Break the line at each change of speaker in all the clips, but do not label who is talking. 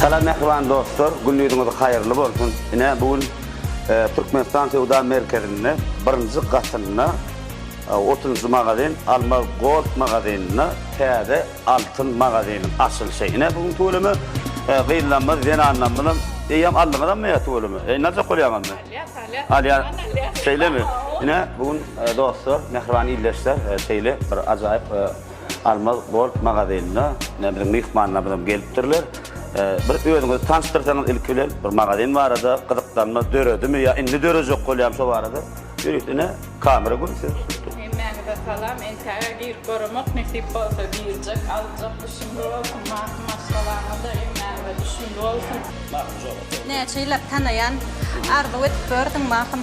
Salam mähriban dostlar, gün ýüzüňiz haýyrly bolsun! Ine, bu gün Türkmenistan söwda merkezinde birinji gatynda otuzynjy magazin Almaz Gold magazynynda täze Altyn magazynyň açylyşy. Ine, bu gün tüweleme gyzlarymyz, zenanlarymyzam, eýýäm aldyňyzam ýa tüweleme? Eýýäm aljak bolýaňyzmy? Alýas, alýas. Alýas. Şeýlemi? Ine, bu gün dostlar, mähriban ildeşler, şeýle bir ajaýyp Almaz gold magazynyna ine biziň myhmanlarymyzam gelipdirler. Bir özüňizi tanyşdyrsaňyz ilki bilen bir magazyn barada gyzyklanma döredimi ýa indi dörejek bolýamy şo barada ýörüs ine kamera gür siz tutun. Hemmäňize
salam entäge girip göremek nesip bolsa girjek aljak düşünli bolsun maki maşgalaňyzda hemmäňize düşünli bolsun.
Näçe ýyllap tanaýan arzuw edip gördüm mahym.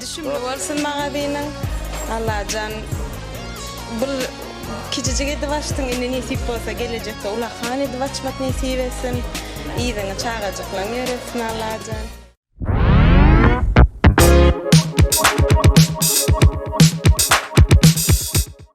Düşümli bolsun magazynyň Allajan bul kicijik edip açdyň indi nesip bolsa gelejekde ulakan edip açmak nesip etsin yzyňy çagajyklaň ýöretsin Allajan.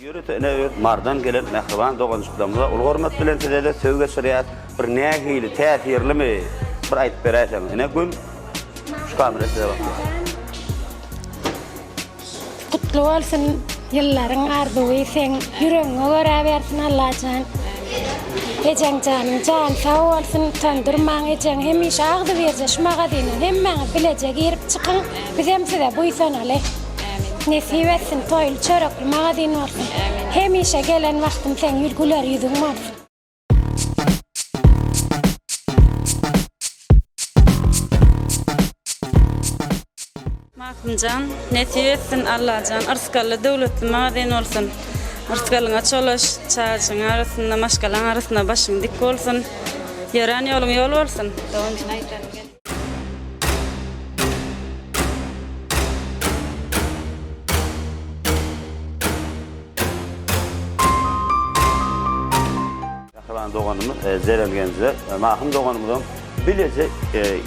Ýörite ene öz Marydan gelen mähriban doganjyklarymyza uly hormat bilen sizede söz geçirýär. Bir nähili täsirlimi bir aýdyp beräýseň ene gün şu kamera size bakýar.
Gutly bolsun ýyllaryň arzuwy seň ýüregiňe göräbersin Allajan Ejeň janyň jany sag bolsun utandyrmaň ejeň hemişe agzybirje şu magazyna hemmäňiz bileje girip çykyň bizem size buýsanaly. Nesip etsin toýly çörekli magazin bolsun hemişe gelen wagtym seň ýüz güler ýüzüň bolsun.
Magtymjan nesip etsin Allajan yrsgally döwletli magazin bolsun yrsgalyňa çolaş çajyň arasynda maşgalaň arasynda başyň dik bolsun ýörän ýoluň ýol bolsun.
Mähriban doganymyz Zeren Genze, Mahym doganymyzam bileje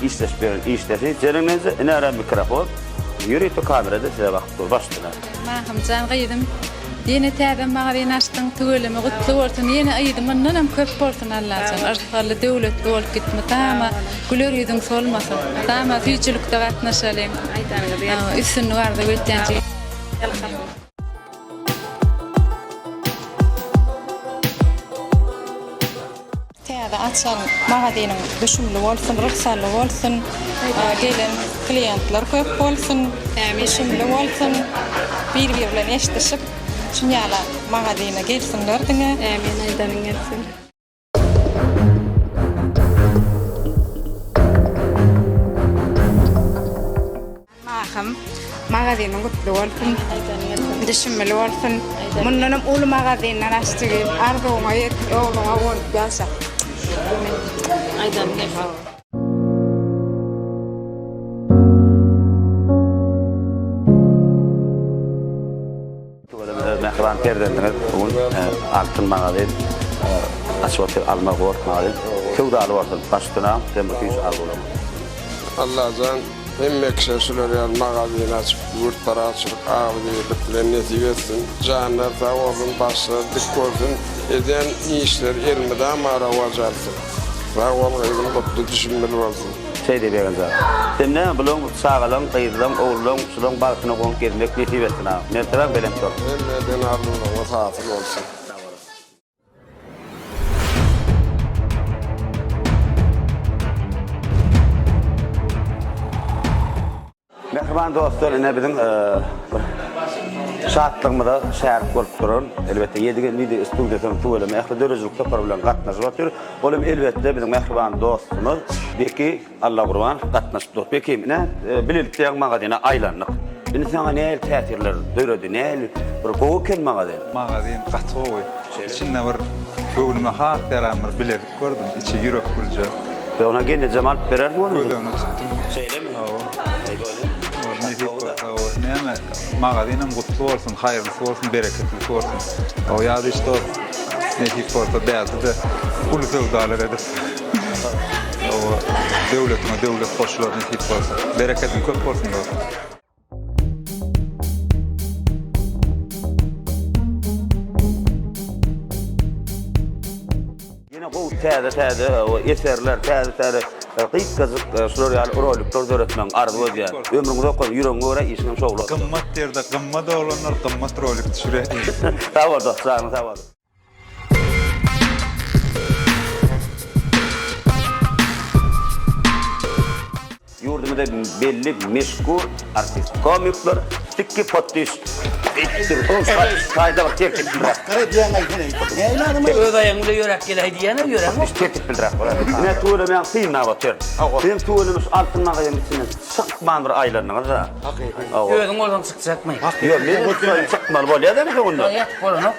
işleşip ýören işleri Zeren Genze, ine ara mikrofon, ýörite kamerada size bakyp dur, baş döner. Mahymjan gyzym
ýene täze magazyn açdyň tüweleme gutly bolsun ýene yzy mundanam köp bolsun Allajan yrsgally döwletli bolup git mydama güler ýüzüň solmasyn mydama süýjülikde gatnaşalyň üstünlik arzuw etýän.
Täze açan magazynyň düşümli bolsun, rysgally bolsun, gelen kliýentler köp bolsun, düşümli bolsun, bir-biri bilen eşdişip, şuny ýala magazyna gelsinler diňe. Ämin aýdanyň
gelsin.
Mahym magazynyň gutly bolsun. Düşümli bolsun. Mundanam uly magazinler aç jigim. Arzuwyňa ýet, ogluňa bolup ýaşa. Aýdan
gep.
Tuweleme öz mähriban perzendiňiz bu gün altyn magazyny açyp otyr alma gold magazyny söwdaly bolsun baş üstüne ömür süýji arzuwlaryň.
Allajan hemme kişä şular ýaly magazyny açyp ýurt parahatçylyk agzybirlik bilen nesip etsin janlar sag bolsun başlar dik bolsun edýän işler elmydama rowaç alsyn sag bol gyzym gutly düşümbil bolsun. Seýdi Begenja.
Sen näme, bulaň, çagalaň, gyzlaň, ogullaň, şulaň bagtyna goňup gezmek nesip etsin, a. Mertebäň belent bolsun. Hemme denarlylaryňyz
hasyl bolsun.
Mähriban dostlar, ine biziň bir şatlygymyza şärik bolup duran, elbetde, Ýedi gelin wideo studiýasynyň tüweleme ähli döredijilik topary bilen gatnaşyp otyr. Ol hem, elbetde, biziň mähriban dostumyz Beki Allagurbanow gatnaşyp dur. Beki, ine, bilelikde ýaňy magazyna aýlandyk. Indi saňa nähili täsirler döredi, nähili bir gowy eken magazyn? Magazyn gaty
gowy. Içinde bir göwnüme has ýaran bir bilezik. Gördüm içi ýürek gürje. Be ona gelnejem
alyp berer mi ony? Gödäne çykdym.
Şeýlemi? Hawa. Aý bolýa. Gorny hikgo hawa. Näme? Magazynam gutly bolsun, haýyrlysy bolsun, bereketlisi bolsun. Hawa ýazy iş dos. Nesip bolsa bäside uly söwdalar edip. Hawa. Döwletiňe döwlet goşular nesip bolsa. Berekediň köp bolsun dos.
Ýene gowy täze-täze eserler, täze-täze gysgajyk şular ýaly rolikler döretmegiň arzuw edýän. Ömrüňiz okan, ýüregiňe görä işiňem şowly. Gymmat ýerde gymmat
oglanlar gymmat rolik düşürýär. Sag bol dost,
janyň sag bolsun. Ýurdumyzda belli meşhur artist komikler sikki potdiş etdir. Ol saýda bir tertip bilrak. Gara diýen aýdyny.
Näme adam? Öz aýagyň bilen ýöräp gel aýdýan-a ýöräň. Biz tertip bilrak bolar.
Näme tüwelemäň synlap otyr. Sen tüwelemiş altyn magazynyň içinden çykman bir aýlandyňyz-a. Hakyky. Özüň bolsaň
çykjakmy? Ýok, men
çykmaly bolýar-da bu günler. Ýok, bolanok.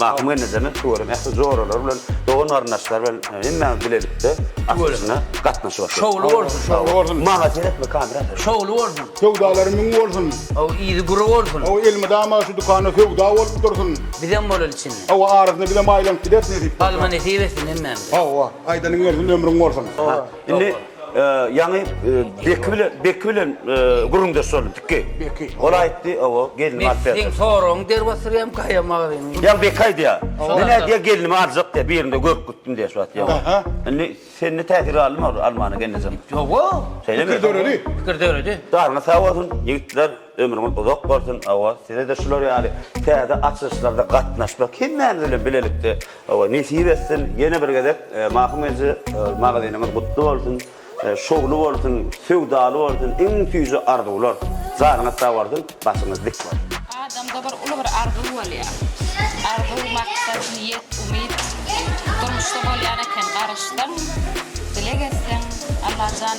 Mahym Gennejeme şu görem ähli joralar bilen, dogan-garyndaşlar bilen hemmämiz bilelikde açylyşyna gatnaşyp atyrys. Şowly bolsun. Şowly
bolsun. Maňa seretme kamera.
Şowly bolsun.
Söwdalary müň bolsun.
Hawa yzy güri
bolsun. Hawa elmydama şu
dükanda söwda bolup dursun. Bizem bolaly içinde.
Hawa arasynda bizem
aýlanyp gideris nesip bolsa. Alma nesip etsin
hemmämize. Hawa aýdanyň
gelsin ömrüň bolsun. Hawa. Indi
Ýaňy Beki bilen, Beki bilen gürrüňdeş boldum, Piki. Beki. Ol aýtdy, owo, gelnimi alyp berjek. Men seň soragyňy
der
basyrýam,
gaýa magzyňy. Ýaňy Beki aýdýar.
Men aýdýar, gelnimi aljak diýip, birinde görüp gitdim diýýär şu wagt. Ýa-ha. Indi sende täsir galdymy ol almanyň gelnejeň? Ýoga. Şeýlemi?
Pikir döredi.
Pikir döredi.
Daryňyz sag bolsun,
ýigitler. Ömrüňiz uzak bolsun hawa sizede şular ýaly täze açylyşlarda gatnaşmak hemmämiz bilen bilelikde hawa nesip etsin ýene bir gezek Mahym eje magazynyňyz gutly bolsun şowly bolsun söwdaly bolsun iň süýji arzuwlar janyňyz sag bolsun başyňyz dik bolsun. Adamda bir uly bir
arzuw bolýar. Arzuw, maksat, niýet, umyt durmuşda bolýan eken, garaşsaň, dileg etseň, Allajan.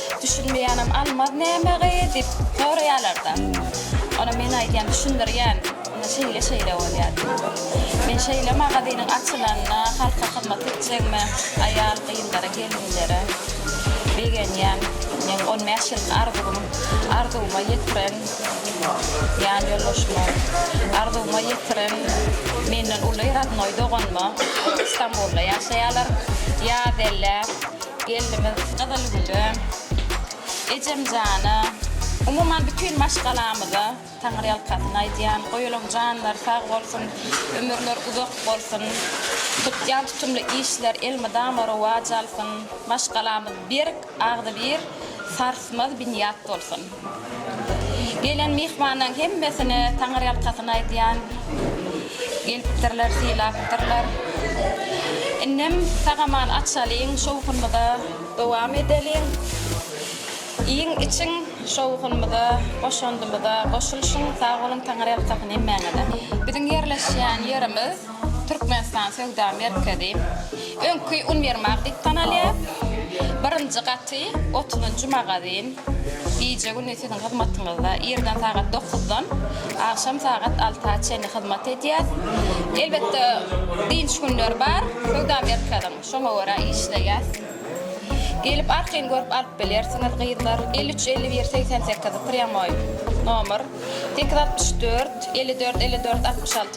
Düşünmeýänem almaz näme gyýy diýip soraýarlarda. Ona men aýdýan düşündirýän indi şeýle şeýle bolýar diýip. Men şeýle magazynyň açylanyna halka hyzmat etjegime aýal gyzlara gelinlere begenýän. Meň on bäş ýyllyk arzuwym arzuwyma ýetiren ýan ýoldaşyma arzuwyma ýetiren menden uly radnoý doganyma Stambulda ýaşaýarlar ýaz elle. Gelnimiz Gyzylgülem, ejemjana, umuman bütin maşgalamyza Taňryýalkasyn aýdýan. Goýulaň janlary sag bolsun, ömürleri uzak bolsun. Tutýan tutumly işler elmydama rowaç alsyn. Maşgalamyz berk, agzybir, sarsmaz binýat bolsun. Gelen myhmanlaň hemmesine taňyrýalkasyn aýdýan gelipdirler sylapdyrlar. Indem sagaman açalyň şowhunmyza dowam edeliň. Iýiň içiň şowhunmyza goşandymyza goşulşyň sag boluň taňyrýalkasyn hemmäňize. Biziň ýerleşýän ýerimiz Türkmenistan söwda merkezi, öňki uniwermag diýip tanalýar. Birinji gaty, otuzynjy magazin. Gije-gündiz siziň hyzmatyňyzda. Irden sagat dokuzdan agşam sagat alta çenli hyzmat edýär. Elbetde, dynç günleri bar söwda merkeziň. Şoňa görä işleýär. Gelip, arkaýyn görüp alyp bilersiňiz, gyzlar. Elli üç, elli bir, segsen sekiz, prýamoý nomer. Sekiz altmyş dört, elli dört, elli dört, altmyş alty.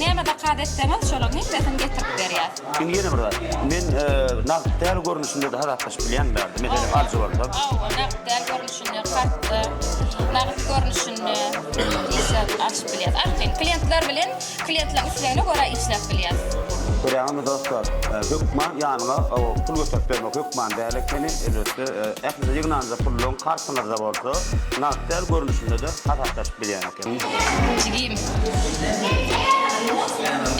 Näme zakaz etseňiz şolaryň hemmesini getirip berýäs. Indi ýene bir
zat. Men nagt däl görnüşinde-de hasaplaşyp bilýänmi bärde? Meselem alyjy bolsam. Hawa, nagt däl görnüşinde, kartda,
nagt görnüşinde işläp açyp bilýäs. Arkaýyn kliýentler bilen kliýentleriň islegine
görä işläp bilýäs. Görýäňizmi dostlar, hökman ýanyňa pul göterip bermek hökman däl ekeni. Elbetde, ählide ýygnanja puluň kartyňyzda bolsa, nagt däl görnüşinde-de hasaplaşyp bilýäňiz. Jigim.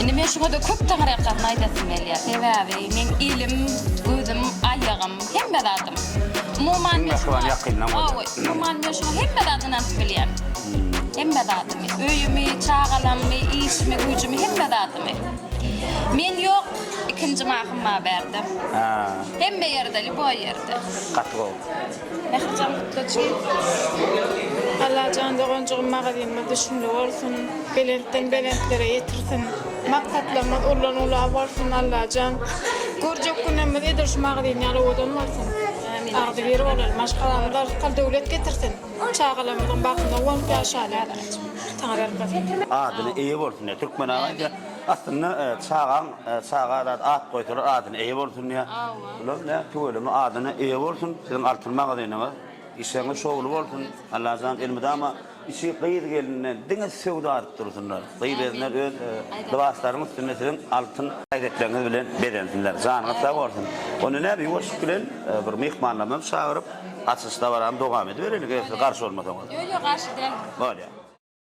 Indi men şuňa da köp taňryýalkasyn aýdasym gelýär. Sebäbi meň elim, gözüm, aýagym, hemme zadym. Umuman men şuňa hawa, umuman men şuňa hemme zady ynanyp bilýän. Hemme zadymy, öýümi, çagalammy, işimi, güýjümi, hemme zadymy. Men ýok, ikinji mahym bar bärde. Hemme ýerde, lýuboý ýerde. Gaty gowy. Mährijan
Kutlaçym Allajan doganjygym magazynyňyz düşümli bolsun belentden belentlere ýetirsin maksatlarňyz ullan ula bolsun Allajan görjek günemiz edil şu magazyny ýaly owadan bolsun agzybir bolaly maşgalamyza rysgal döwlet getirsin çagalarmyzyň bagtyna guwanyp ýaşaly saňa berk bolsun. Adyna eýe bolsun
diýýä Türkmen aga diýýä. Aslynda çagaň çaga zat at goýsalar adyna eýe bolsun diýýä. Bular ne tüweleme adyna eýe bolsun siziň altyn magazynyňyz işleriňiz şowly bolsun Allajan elmydama içi gyz geline diňe söwda adyp dursynlar gyz ezinler öz lybaslaryň üstünde siziň altyn hereketleriňiz bilen bezensinler janyňyz sag bolsun onda näme ýuwaşlyk bilen bir myhmanlarymyzy çagyryp açylyş dabarany dowam ediberelik eger siz garşy bolmasaňyz. Ýok ýok garşy däldir.
Bolýa.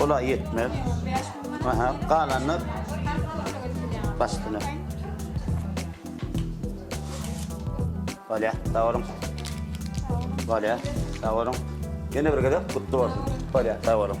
Ola ýetmez. Aha, galanyny başdyna. Bolýa, sag boluň. Bolýa, sag boluň. Ýene bir gezek gutly bolsun. Bolýa, sag boluň.